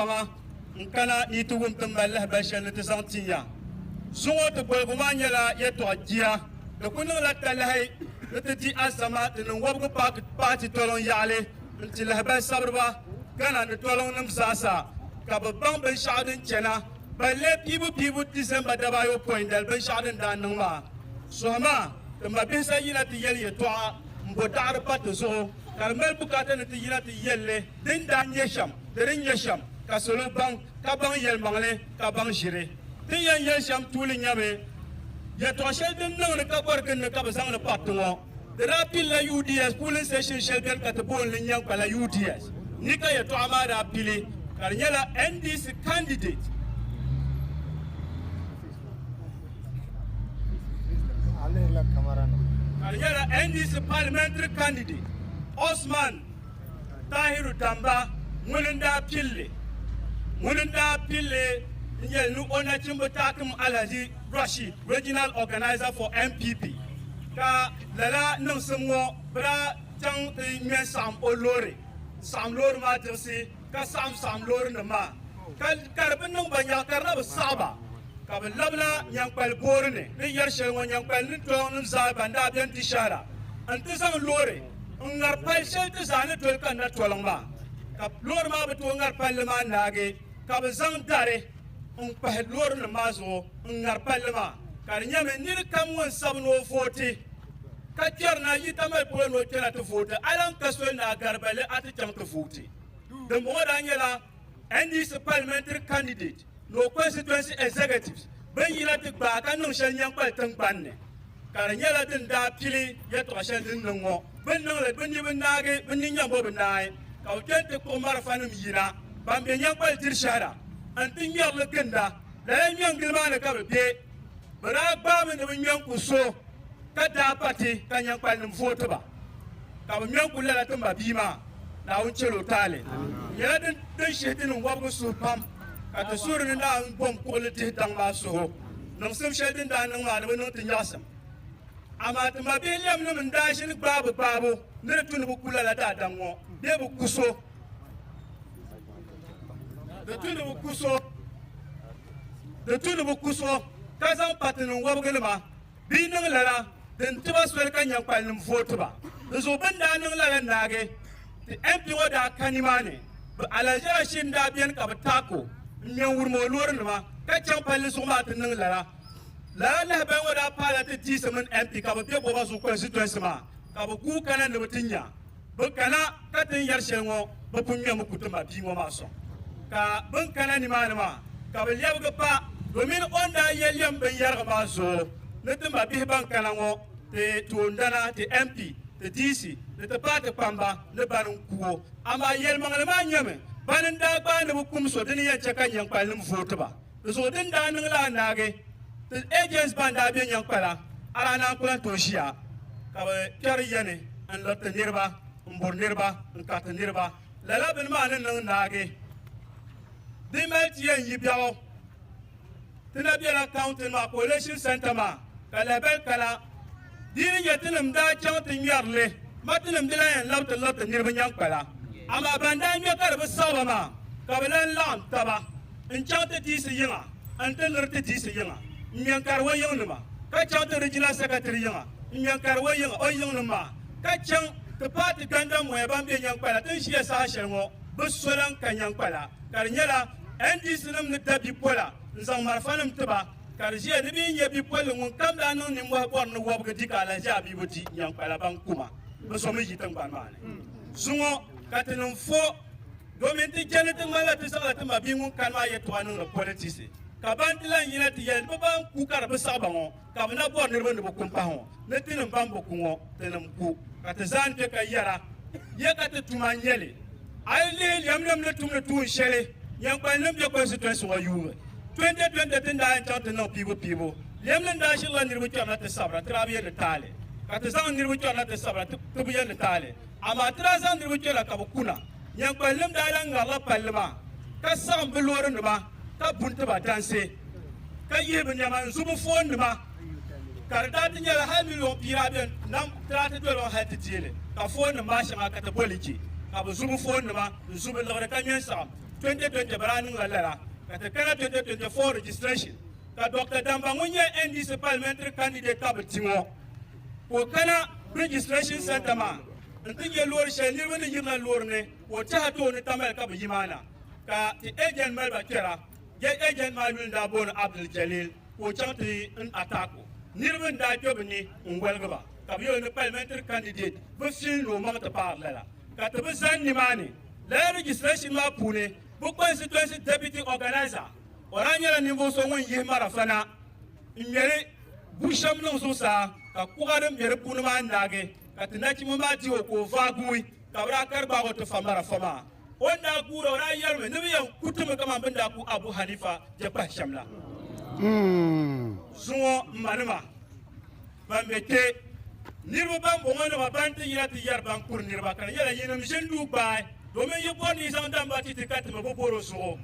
Paŋa n-kana ni yi ti wum tiŋgbani lahibali shɛli ni ti zaŋ ti ya. Zuŋɔ ti boligu maa nyɛla yɛtɔɣ jia. Di ku niŋla talahi ni ti di alizama di niŋ wɔbigu paaki paati toliŋ yaɣili n-ti lahibali sabiriba Ghana ni toliŋnim zaa sa ka bɛ baŋ binshɛɣu din chana balle piibu piibu Disemba dabaayopɔin dali binshɛɣu din daa niŋ maa. Sohima ti mabihi sa yina ti yɛli yɛtɔɣa m-bo daɣiri pa ti zuɣu ka di mali bukaata ni ti yina ti yɛl li din daa nyɛ shɛm. Di ni nyɛ shɛm ka salo baŋ, ka baŋ yɛlimaŋli, ka baŋ ʒiri. Ti ni yɛn yɛli shɛm tuuli nyɛmi, Yɛtɔɣ shɛli din niŋdi ka bɔri ginni ka bɛ zaŋdi pari ti ŋɔ. Di daa pilila Yudias kuulin seshin shɛli beni ka ti booni li Nyankpala Yudias ni ka yɛtɔɣa maa daa pili, ka di nyɛla NDC kandidɛt. Ka di nyɛla NDC palimɛntiri kandidɛt Osman. Tahiru Tamba ŋuni n-daa pilli ŋuni n-daa pilli n-yɛli ni o nachimba taakim Alhaji Rashid, Regional Organiser for NPP, ka lala niŋsim ŋɔ bɛ daa chaŋ ti ŋme n-saɣim o loori n-saɣim loori maa diɣisi ka saɣim saɣim loorinima maa ka ka di bi niŋ ba yaɣi ka di na bi saɣi ba ka bɛ labila Nyankpali boori ni din yɛri shɛli ŋɔ Nyankpali ni tɔɔnim zaa ban daa beni di shɛhira n-ti zaŋ loori n ŋari pali shɛli ti zaa ni doli kanna toliŋ maa ka loori maa bi tooi ŋari palli maa naagi ka bi zaŋ dari n kpahi loori nim maa zuɣu n ŋari palli maa ka di nyɛmi nini kam ŋun sabi ni o vooti ka kpɛri na yita mali polo ni o kpɛna ti vooti a lahi ka soli ni a garibali a ti chaŋ ti vooti dinbɔŋɔ daa nyɛla NDC parliamentary candidate ni o constituency executives bin yina ti gbaai ka niŋ shɛli nyɛnkpali tingbanni ka di nyɛla din daa pili yɛltɔɣa shɛli din niŋ ŋɔ bin niŋli bi ni bi naagi bi ni nyɛmbo bi naai ka bi kpɛni ti kpuɣi marafanim yina ban be nyɛnkpali diri shɛhi la n-ti ŋmɛrili ginda lala ŋmɛngili maa ni ka bi be bɛ daa gbaami ni bɛ ŋmɛ n-ku so ka daa pa ti ka nyɛnkpalinim vooti ba. ka bɛ ŋmɛ n-kuli lala timba bia maa, Naawuni chɛl o taali. Di nyɛla din shihi ti niŋ wɔbigu suhu pam ka ti suhuri ni daa ni bom kuɣili dihi daŋ maa suhu niŋsim shɛli din daa niŋ maa ni bɛ niŋ ti nyaɣisim. Amaa ti mabihi lɛmnim n-daa ʒini gbaabu gbaabu ni di tu ni bɛ ku lala daadam ŋɔ bee bɛ ku so. Di tu ni bɛ ku so ka zaŋ pa ti niŋ wɔbiginima. bɛ yi niŋ lala din ti ba soli ka nyankpalinim vooti ba. Di zuɣu bɛ ni daa niŋ lala naagi ti MP ŋɔ daa ka nimaani. Bɛ alaʒaashiri n-daa beni ka bɛ taak o m-me n-wurim o loorinima ka chaŋ palli zuɣu maa ti niŋ lala. Lala lahabali ŋɔ daa paai la ti diisi mini MP ka bɛ be Boba zuɣu constituency maa ka bɛ guui kana ni bɛ ti nya. bɛ kana ka ti ni yɛri shɛli ŋɔ bɛ pun ŋmɛmi ku ti ma bia ŋɔ maa sɔŋ. Ka bɛ ni kana nimaani maa ka bɛ lɛbigi pa domin o ni daa yɛn lɛm binyɛrigu maa zuɣu ni ti ma bihi ban kana ŋɔ ti toondana, ti MP, ti DC ni ti paai ti kpamba ni bani n-ku o. Amaa yɛlimaŋli maa nyɛmi bani n-daa gbaai ni bɛ kum so di ni yɛn chɛ ka nyɛnkpalinim vooti ba. Di zuɣu din daa niŋ la anaagi ti agents ban daa be Nyankpala Arana n kuli tooi ʒiya ka bɛ kpɛri yani n liri ti niriba m buri niriba n kari ti niriba. Lala bini maa ni niŋ naagi din mali ti yɛn yi biɛɣu ti na bela county maa coalition centre maa ka lahabali kala di ni nyɛ tinim daa chaŋ ti ŋmɛri li ma tinim di lan yɛn labi ti liri ti niriba Nyankpala amaa ban daa ŋmɛ ka di bi saɣi ba maa ka bɛ lan laɣim taba n chaŋ ti diisi yiŋa n ti liri ti diisi yiŋa n ŋmɛ n kari o yiŋnima ka chaŋ ti Regional Secretary yiŋa n ŋmɛ n kari o yiŋa o yiŋnim maa ka chaŋ ti paati gandammoya ban be Nyankpala ti ni ʒiya saha shɛli ŋɔ bɛ so lan ka Nyankpala ka di nyɛla NDC nim ni da bipola n zaŋ marafanim ti ba ka di ʒiya ni bɛ yi nya bipolli ŋun kam daa niŋ nimmɔhi bɔri ni wɔbigu di ka alahiʒi a bia bi di Nyankpala bankuma bɛ so mi yi tiŋgbani maa ni zuŋɔ ka ti niŋ fo Domin ti chɛ ni ti ŋmanila ti zaŋla ti mabia ŋun kani maa yɛtɔɣa niŋdi politisi, ka ban ti lan yina ti yɛli ni bɛ ban ku ka di bi saɣi ba ŋɔ, ka bɛ na bɔri niriba ni bɛ ku m-pahi ŋɔ, ni tinim ban bi ku ŋɔ, tinim ku. Ka ti zaa ni kpe ka yɛr a, Yɛ ka ti tum a nya li? A yi lihi lɛmnim ni tumdi tuun shɛli Nyɛnkpani ni be kɔnsitɔinsi ŋɔ yuui 2020 ti ni daa yɛn chaŋ ti niŋ piibupiibu, lɛmnim ni daa ʒirila niriba kpɛrina ti sabira ti daa bi yɛn ni taali, ka ti zaŋ niriba kpɛrina ti sabira ti bi yɛn ni taali. Amaa ti daa zaŋ niriba kpɛla ka bɛ ku na. Nyankpalinim daa lahi ŋarila palli maa, ka saɣim bɛ loorinima ka bu n-ti ba dansi, ka yihi bɛ nɛma n-zu bɛ foonnima, ka di daa ti nyɛla hal miliyon pia bɛ nam ti daa ti doli o hal ti deei li, ka foonnim maa shɛŋa ka ti boli che, ka bɛ zu bɛ foonnima n-zu bɛ liɣiri ka ŋme n-saɣim. 2020 bɛ daa niŋla lala, ka ti kana 2024 registration, ka Dɔkta Damba ŋun nyɛ NDC Parliamentary candidate ka bɛ ti ŋɔ. Ka o kana Registration Centre maa n-ti nya loori shɛli niriba ni yirina loori ni ka o tɛha tooni tamali ka bɛ yi maa na ka ti agent mali ba kpɛra. Gate agent maa yuli n-daa booni Abdul Jalil ka o chaŋ ti n attack o. Niriba n-daa kpe bɛ ni n-woligi ba ka bɛ yɛl o ni Parliamentary candidate bi fil ni o maŋ ti paari lala ka ti bi zani nimaani. Lala registration maa puuni bɛ constituency deputy organiser o daa nyɛla ninvuɣ so ŋun yihi marafa na. N ŋmɛri bu shɛm niŋ zuɣusaa, ka kuɣa din be di puuni maa naagi, ka ti nachimba maa ti o ka o vaai guui, ka bɛ daa kari gbaag o ti fa marafa maa. O ni daa guura, o daa yɛlimi, Ni bɛ yɛn ku ti mi kaman bɛ ni daa ku Abu Haniifa je kpahi shɛm la, zuŋɔ m manima! ban be kpe, niriba ban bɔŋɔ nima ban ti yina ti yɛri ban kuri niriba ka di nyɛla yinim ʒinduu gbaai domin yi bɔri ni yi zaŋ damba ti ti ka ti mi bi bɔr o zuɣu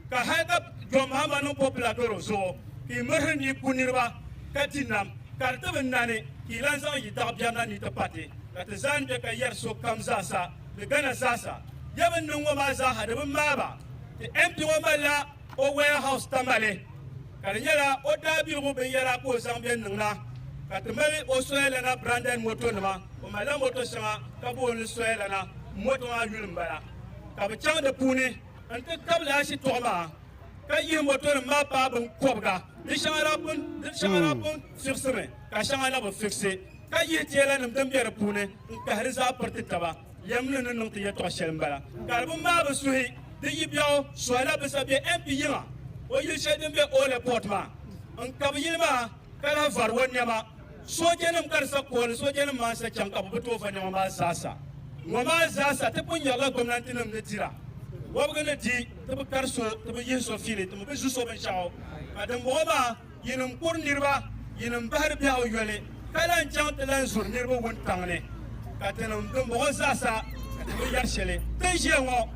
ka hal ka John Mahama niŋ popular dɔr o zuɣu ka yi mirhi ni yi ku niriba ka ti nam ka di ti bi nani ka yi lan zaŋ yi daɣ biɛrina ni ti pati ka ti zaa ni be ka yɛri sokam zaasa ni Ghana zaasa ya bɛ ni niŋ ŋɔ maa zaaha di bi maai ba ti MP ŋɔ malila o warehouse Tamale ka di nyɛla o daabiligu binyɛra ka o zaŋ bɛ niŋda ka ti mali o Soyalana branded moto nima o malila moto shɛŋa ka bo li Soyalana moto maa yuli n bala ka bi chaŋ di puuni n ti tabili ashitɔɣu maa ka yihi moto nim maa paa bin kɔbiga di shɛŋa daa pun di shɛŋa daa pun fiɣisimi ka shɛŋa na bi fiɣisi ka yihi teela nim din bɛ di puuni n kahiri zaa piriti taba. Lɛmli ni niŋ ti yɛtɔɣ shɛli m-bala. Karibu maa bi suhi di yi biɛɣu Suhaila Bisa be MP yiŋa o yili shɛli din be Ole Port maa n-kabi yili maa ka lahi vari o nɛma. Soojanim ka di sa kooli soojanim maa n-sa chaŋ ka bɛ bi tooi va nɛma maa zaasa. Ŋɔ maa zaasa ti pun nyarila gomnantinim ni dira. Wɔbigu ni di ti bi kari so ti bi yihi so fiili ti mi bi zu so binshɛɣu ka dimbɔŋɔ maa Yinim kuri niriba, yinim bahiri biɛɣu yoli, ka lan chaŋ ti lan zuri niriba wuntaŋ ni, ka tinim dimbɔŋɔ zaasa, ka ti bi yɛri shɛli. Tin ʒiya ŋɔ,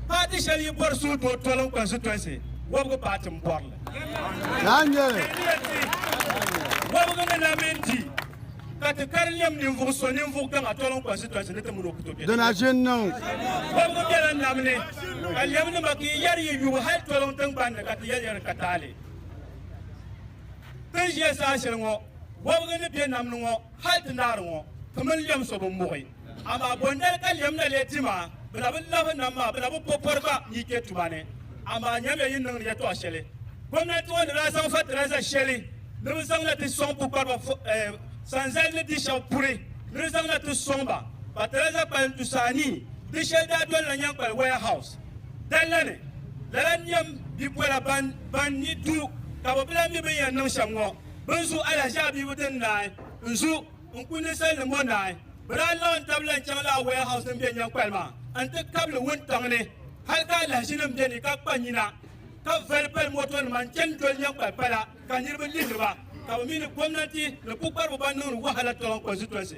paati shɛli yi bɔri suhudoo toliŋ kɔnsitɔnsi, wɔbigu paati m-bɔri li. Wɔbigu ni na mini di, ka ti kari lɛm ninvuɣ so ninvuɣ gaŋa toliŋ kɔnsitɔnsi ni ti mini o ku tooi be tabu. Wɔbigu bela nam ni, ka lɛmnima ka yi yɛri yi yubu hal toliŋ tiŋgbani ni, ka ti yɛliyɛli ka taali. Ti ni ʒiya saha shɛli ŋɔ, wɔbigu ni be nam ni ŋɔ, hal ti naari ŋɔ, ti mini lɛm so bi muɣi. Amaa bondali ka lɛm na lee di maa, bɛ na bi lahi nam maa, bɛ na bi po pɔri gba ni yi kpe tuma ni. Amaa nyamiya yi niŋdi yɛtɔɣ shɛli gomnanti ŋɔ ni daa zaŋ fatilaiza shɛli ni bɛ zaŋ na ti sɔŋ pukpariba sanzali ni di shɛb puri ni di zaŋ na ti sɔŋ ba fatilaiza kpalim tusa anii, di shɛli daa dolila Nyankpali Warehouse. Dalla ni, lala n-nyɛm bipola ban ban ni du ka bɛ bi lan mi bɛn yɛn niŋ shɛm ŋɔ. Bɛ ni zu alahiʒiabibu din naai n-zu n-ku ninsalinim ŋɔ naai, bɛ daa laɣim tab lan chaŋ lala warehouse din be Nyankpali maa n-ti kab li wuntaŋ ni hal ka alahiʒinim be ni ka kpa nyina ka vali pali motonima n-chani doli Nyankpali pala ka niriba lihiri ba ka bɛ mi ni gomnanti ni pukpariba ban niŋdi wahala tɔronkonsitonsi